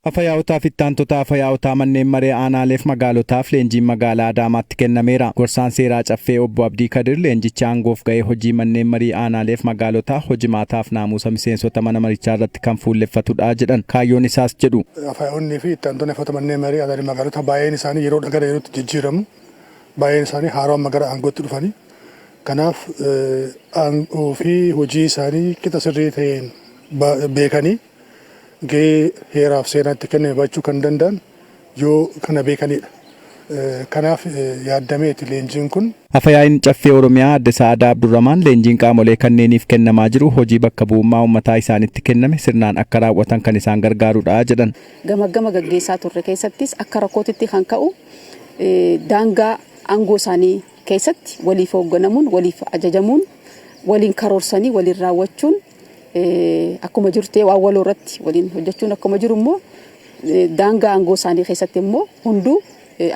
Afayaa'otaaf Ittaantota Afayaa'otaa Manneen Maree Aanaaleef Magaalotaaf leenjiin Magaalaa Adaamaatti kennameera. Gorsaan Seeraa Caffee Obbo Abdii Kadir leenjichi aangoof ga'ee hojii Manneen Marii Aanaaleef Magaalotaa, hojimaataaf naamuusa miseensota mana marichaa irratti kan fuulleffatudha jedhan. Kaayyoon isaas jedhu. Afayaa'onnii fi Ittaantonni Afayaa'ota Manneen Maree Aanaaleef Magaalotaa baay'een isaanii yeroodhaa gara yerootti jijjiiramu. Baay'een isaanii haarawa amma gara aangootti dhufani. Kanaaf aangoo fi hojii isaanii qixa sirrii ta'een beekanii gahee heeraaf seeraan itti kenname bahachuu kan danda'an yoo kana beekaniidha. Kanaaf yaaddameeti leenjiin kun. Afa-yaa'iin Caffee Oromiyaa Adde Sa'adaa Abdurramaan leenjiin qaamolee kanneeniif kennamaa jiru hojii bakka bu'ummaa ummataa isaanitti kenname sirnaan akka raaw'atan kan isaan gargaarudha jedhan. Gamaggama gaggeessaa turre keessattis akka rakkootitti kan ka'u daangaa aangoo isaanii keessatti waliif hoogganamuun, waliif ajajamuun, waliin karoorsanii waliin raawwachuun, akkuma jiru ta'ee waan waloo irratti waliin hojjechuun akkuma jiru immoo daangaa aangoo isaanii keessatti immoo hunduu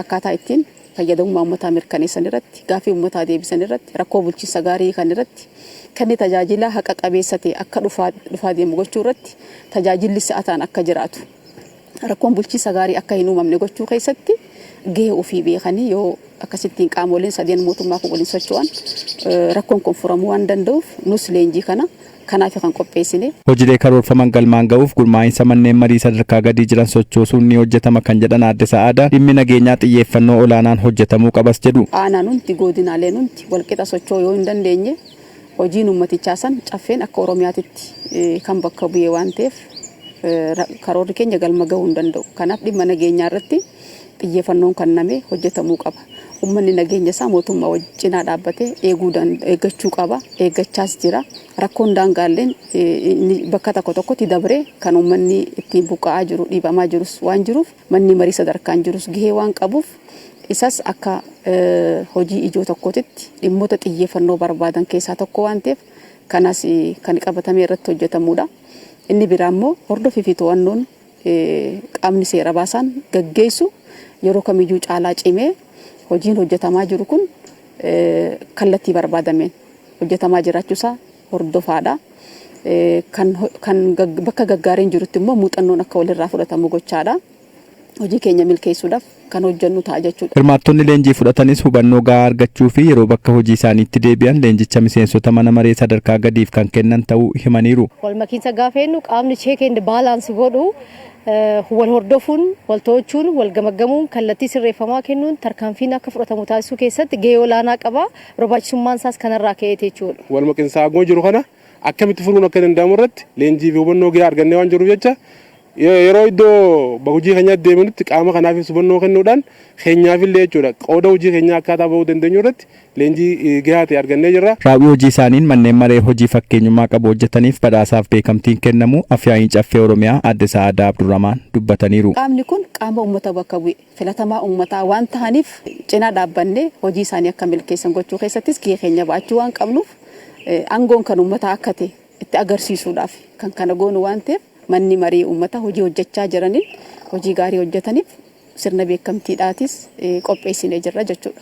akkaataa ittiin fayyadamummaa uummataa mirkaneessan irratti gaaffii uummataa deebisan irratti rakkoo bulchiinsa gaarii kan irratti kenni tajaajilaa haqa qabeessa ta'e akka dhufaa deemu gochuu irratti tajaajilli si'ataan akka jiraatu. rakkoon bulchiinsa gaarii akka hin uumamne gochuu keessatti gahee ofii beekanii yoo akkasittiin qaamoleen sadeen mootummaa kun waliin socho'an rakkoon kun furamuu waan danda'uuf nus leenjii kana kanaafi kan qopheessine. Hojilee karoorfaman galmaan ga'uuf gurmaa'insa manneen marii sadarkaa gadii jiran sochoosuun ni hojjetama kan jedhan Aadde Sa'aadaa, dhimmi nageenyaa xiyyeeffannoo olaanaan hojjetamuu qabas jedhu. Aanaan hundi, goodinaaleen hundi walqixa socho'uu yoo hin dandeenye Hojiin uummatichaa san Caffeen akka Oromiyaatitti kan bakka bu'e waan ta'eef karoorri keenya galma gahuu hin danda'u. Kanaaf dhimma nageenyaa irratti xiyyeefannoon kannamee hojjetamuu qaba. Uummanni nageenya isaa mootummaa wajjin cinaa dhaabbatee eeguu eeggachuu qaba. Eeggachaas jira. Rakkoon daangaalleen bakka tokko tokkotti dabree kan uummanni ittiin buqqa'aa jiru dhiibamaa jirus waan jiruuf Manni marii sadarkaan jirus gahee waan qabuuf isas akka hojii ijoo tokkootitti dhimmoota xiyyeeffannoo barbaadan keessaa tokko waan ta'eef kanas kan qabatamee irratti hojjetamuudha. Inni biraa immoo hordofii fi to'annoon qaamni seera baasaan gaggeessu yeroo kamiyyuu caalaa cimee hojiin hojjetamaa jiru kun kallattii barbaadameen hojjetamaa jiraachuu isaa hordofaadha. Kan kan bakka gaggaariin jirutti immoo muuxannoon akka walirraa fudhatamu gochaadha. Hojii keenya milkeessuudhaaf kan hojjennu ta'a jechuudha. Hirmaattonni leenjii fudhatanis hubannoo gahaa argachuu fi yeroo bakka hojii isaaniitti deebi'an leenjicha miseensota mana maree sadarkaa gadiif kan kennan ta'uu himaniiru. Walmakiinsa gaafa jennu qaamni check and balance godhu wal hordofuun, wal to'achuun, wal gamaggamuun, kallattii sirreeffamaa kennuun tarkaanfiin akka fudhatamu taasisuu keessatti gahee olaanaa qaba. Barbaachisummaan isaas kanarraa ka'eeti jechuudha. Walmaqiinsa aangoo jiru kana akkamitti furuun akka danda'amu irratti leenjii fi hubannoo gahaa argannee waan jirruuf jecha yeroo iddoo hojii keenyaatti deebinutti qaama kanaafis hubannoo kennuudhaan keenyaafillee jechuudha qooda hojii keenyaa akkaataa ba'uu dandeenyu irratti leenjii gahaa ta'e argannee jirra. Raawwii hojii isaaniin manneen maree hojii fakkeenyummaa qabu hojjetaniif badhaasaaf beekamtiin kennamuu Afyaa'iin Caffee Oromiyaa Aadde Sa'aadaa Abdurramaan dubbataniiru. Qaamni kun qaama uummata bakka bu'e. filatamaa ummataa waan tahaniif cinaa dhaabbannee hojii isaanii akka milkeessan gochuu keessattis gahee keenya ba'achuu waan qabnuuf angoon kan ummataa akka tahe itti agarsiisuudhaaf kan kana goonu waan taheef manni marii ummataa hojii hojjechaa jiraniin hojii gaarii hojjetaniif sirna beekamtiidhaatis qopheessinee jirra jechuudha.